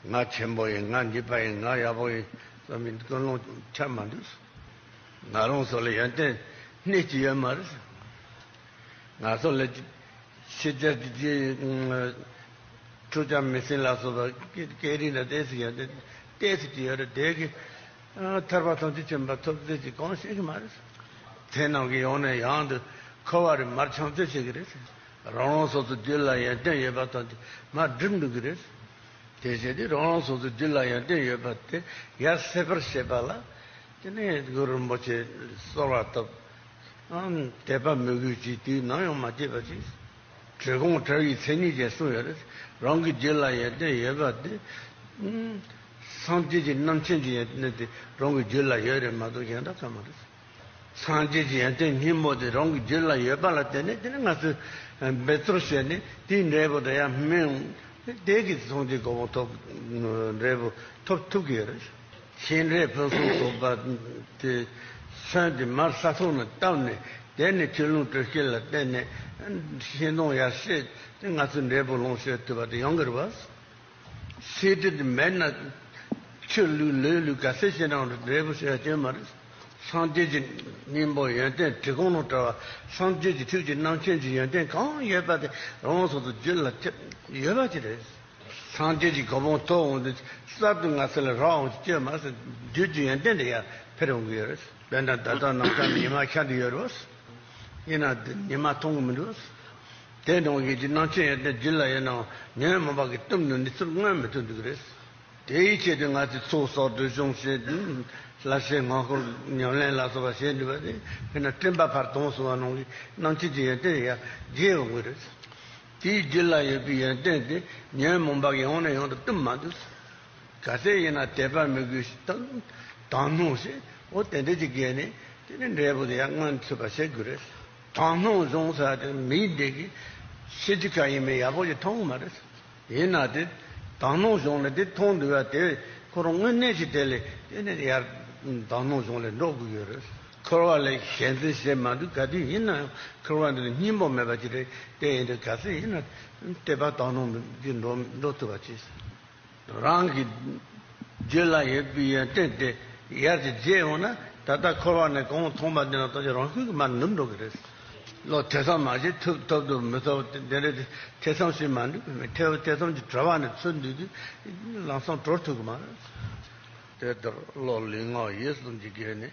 ང་ཆེན་པོ་ཡིན་ང་འཇིགས་པ་ཡིན་ང་ཡག་པོ་ཡིན་བསམ་པའི་ཀུན་སློང་ཆ་མ་འདུག་ང་རང་སོགས་ལ་ཡོན་ཏན་སྣེ་གཅིག་ཡོད་མ་རེད། ང་སོགས་ལ་ཕྱི་རྒྱལ་གྱི་ཕྲུག་བྱམས་མི་སྲིང་ལ་སོགས་པ་སྐད་རིགས་ལ་དེ་སྲིད་ཡོན་ཏན་དེ་སྲིད་ཀྱི་ཡོད་རེད་དེ་གའི་ཐར་པ་ཐམས་ཅད་ཆེན་པོ་ཐོབ་རྩིས་ཀྱི་གང་ཤེས་ཀྱི་མ་རེད། དེ་ནང་གི་ཡང་ནས་ཡང་དུ་འཁོར་བ་རེ་མར་འཆང་རྩིས་བྱེད་ཀྱི་རེད། རང་རང་སོ་སོའི་རྒྱུད་ལ་ཡོན་ཏན་ཡོད་པ་དང་དེ་མ་བསྒྲིབས་འདུག་གི་རེད། དེ་བཞིན་དུ་རང་རང་སོ་སོའི་རྒྱུད་ལ་ཡོན་ཏན་ཡོད་པ་དེ་ཡར་སེལ་བར་བྱེད་པ་ལ། དེ་ནས་གུ་རུ་རིན་པོ་ཆེས་གསོལ་བ་བཏབ། དད་པ་མོས་གུས་ཀྱིས་དུས་ནམ་ཡང་མ་སྐྱེས་པ་ཅིག། གྲི་གུང་བྲག་ཡིག་མཚན་ཉིད་ཅན་གསུངས་ཡོད་རེད། རང་གི་རྒྱུད་ལ་ཡོན་ཏན་ཡོད་པ་དེ། སངས་རྒྱས་ཀྱི་རྣམ་མཁྱེན་གྱི་ཡོན་ཏན་དེ་རང་གི་རྒྱུད་ལ་ཡོད་རེད་མ་གཏོགས་གཞན་དག་ག་མ་རེད། སངས་རྒྱས་ཀྱི་ཡོན་ཏན་སྙིང་པོ་དེ་རང་གི་རྒྱུད་ལ་ཡོད་པ་ལ་བརྟེན་ནས་དེ་ནི་ང་ཚོས་འབད་རྩོལ་བྱས་ནས་དེའི་འབྲས་བུ་དང་ཡང་སྨིན། དེས་ཀྱི་ཚངས་རྒྱས་གོ་འཕང་ཐོབ། འབྲས་བུ་ཐོབ་ཐུབ་ཀྱི་ཡོད་རེད། ཤིང་འབྲས་ཕུན་སུམ་ཚོགས་པ་དེ་ཚོན་དེ་མར་ས་ཐོག་ནས་བཏབ་ནས་དེ་ནས་ཆུ་ཀླུང་དྲོད་སྐྱེད་ལ་བརྟེན་ནས་ཤིང་སྡོང་ཡར་བཤས་ཏེ་ང་ཚོས་འབྲས་བུ་ལོངས་སྤྱོད་ཐུབ་པ་དེ་ཡང་གི་རུ་བ། ཚེ་འདིར་མེད་ན་ཕྱིར་ལུས་ལས་ལུས་ག་ཚད་ཅི་འབྲང་རུ་འབྲས་བུ་ཆོས་སྐྱོན་མ་རེད། སངས་རྒྱས་ཀྱི་སྙིང་པོ་ཡོན་ཏན་བྲི་གོང་ལོག་བྲི་བ་སངས་རྒྱས་ཀྱི་ཐུགས་ཀྱི་རྣམ་མཁྱེན་གྱི་ཡོན་ཏན་གང་ཡོད་པ་དེ་རང་དབང་ཐོག་ཏུ་རྒྱུད་ལ་ཁྱབ་ཡོད་པ་དེ་རེད། སངས་རྒྱས་ཀྱི་གོ་འཕང་ཐོབ་འོང་དུས་གསར་དུ་ང་ཚོ་ལ་རང་དབང་གི་སྐྱོན་མ་ཟད་རྒྱུད་ཀྱི་ཡོན་ཏན་དེ་ཡར་འཕེར་འོང་གི་ཡོད་རེད། དཔེར་ན་ད་ལྟ་ནང་ཆ་ནི་ཉི་མ་ཁྱད་དུ་ཡོད་རེད། ཡིན་ནའང་ཉི་མ་མཐོང་གི་མི་འདུག། དེའི་ནང་གི་ཀྱི་སྣང་ཆེན་ཡོད་དེ་འདི་ལ་ཡོད་ནའང་ཉོན་མོངས་པ་གིས་གཏུམས་ནས་ནི་ཚུར་མངོན་མི་ཐུབ་འདུག་གི་རེད། དེའི་ཆེད་དུ་ང་ཚོས་ཚོགས་བསགས་བསྟོད་སྦྱོང་བྱེད་ལ་ཞེས་སྔ་འཁོར་ཉམས་ལེན་ལ་སོགས་པ་བྱེད་འདོད་པ་དེ་དཔེར་ན་སྤྲིན་པ་བར་སྟོང་སོགས་པ་ནང་གི་སྣང་ཆེན་གྱི་ཡོན་ཏན་ཡར་རྒྱས་ཡོང་གི་རེད། དེའི་རྒྱུད་ལ་ཡོད་པའི་ཡོན་ཏན་དེ་ཉོན་མོངས་པ་གིས་ཡོང་ནས་ཡོང་དུ་གཏུམས་མ་འདུག་ག་དེ་ཡིན་ན་དད་པ་མི་དགོས་དང་དང་ནོ་ཞེས་འོ་དེ་འདྲ་ཅིག་བརྒལ་ནས་དེ་ནས་འབྲས་བུ་དེ་ཡར་མངོན་ཐུབ་པ་བྱེད་དགོས་རེད། དང་སྣང་བཟུང་ས་དེ་མིའི་སྡེ་དགེ་ཤེས་ཀྱི་ཁ་ཡིན་མིན་ཡག་པོ་ཞིག་མཐོང་གི་མ་རེད། ཡིན་ན་དེ་དང་སྣང་བཟུང་ལས་དེ་མཐོང་འདུག་ཡ་དེ་ཁོ་རང་དངོས་གནས་ཀྱི་དེ་ལས་དེ་ནས་ཡར་དང་སྣང་བཟུང་ལས་འགྲོ་དགོས་ཀྱི་ཡོད་རེད། འཁོར་བ་ལས་གཞན་དོན་བྱེད་མ་འདུག་ག་དུས་ཡིན་ན་ཡང་འཁོར་བ་འདི་ལ་སྙིང་པོ་མེད་པ་ཅིག་རེད་དེ་ཡིན་དུས་ག་ཚོད་ཡིན་ན་བལྟས་པ་དང་སྣང་གིས་འགྲོ་ཐུབ་པ་ཅིག། རང་གི་རྒྱུད་ལ་ཡོད་པའི་ཡོན་ཏན་དེ་ཡར་གྱི་རྗེས་ཡོང་ན་ད་ལྟ་འཁོར་བ་ནས་གང་མཐོང་པ་དེ་ལ་ལྟོ་འཕྱེ་རང་ཤུགས་ཀྱིས་མར་ནུབ་འགྲོ་གི་རེད། བློ་ཐེ་ཚོམ་མ་བྱེད་ཐུབ་ཐུབ་ཐུབ་མི་ཐུབ་དེ་འདྲའི་ཐེ་ཚོམ་ཞིག་མ་འདུག་གི་མི་ཐེ་བོ་ཐེ་ཚོམ་གྱི་བྲོ་བ་ནི་ཚུར་འདུས་དུས་ལམ་སང་བྲོ་ཐུབ་གི་མ་རེད། དེ་ལྟར་བློ་ལུས་ངག་ཡིད་གསུམ་གྱི་སྒོ་ནས་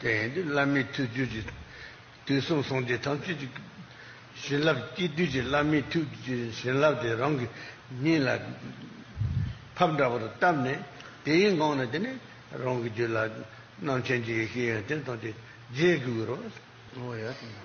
དེ་ཡིན་དུས་བླ་མའི་མཐུས་བརྗོད་ཅིག། དུས་གསུམ་གསང་བདེ་ཐམས་ཅད་ཀྱི། བྱིན་རླབས་སྐྱེས་དུས་ཀྱི་བླ་མའི་མཐུས། བྱིན་རླབས་དེ་རང་གི་སྙིང་ལ། ཕབ་འདྲ་བར་བཏབ་ནས། དེའི་འགངས་ནི་དེ་ནས། རང་གི་རྒྱུད་ལ། རྣམ་མཁྱེན་གྱི་ཡེ་ཤེས་ཡོན་ཏན་དང་བཅས་རྗེས་བསྒུལ་བར། བསྔོ་བ་ཡོད་དམ།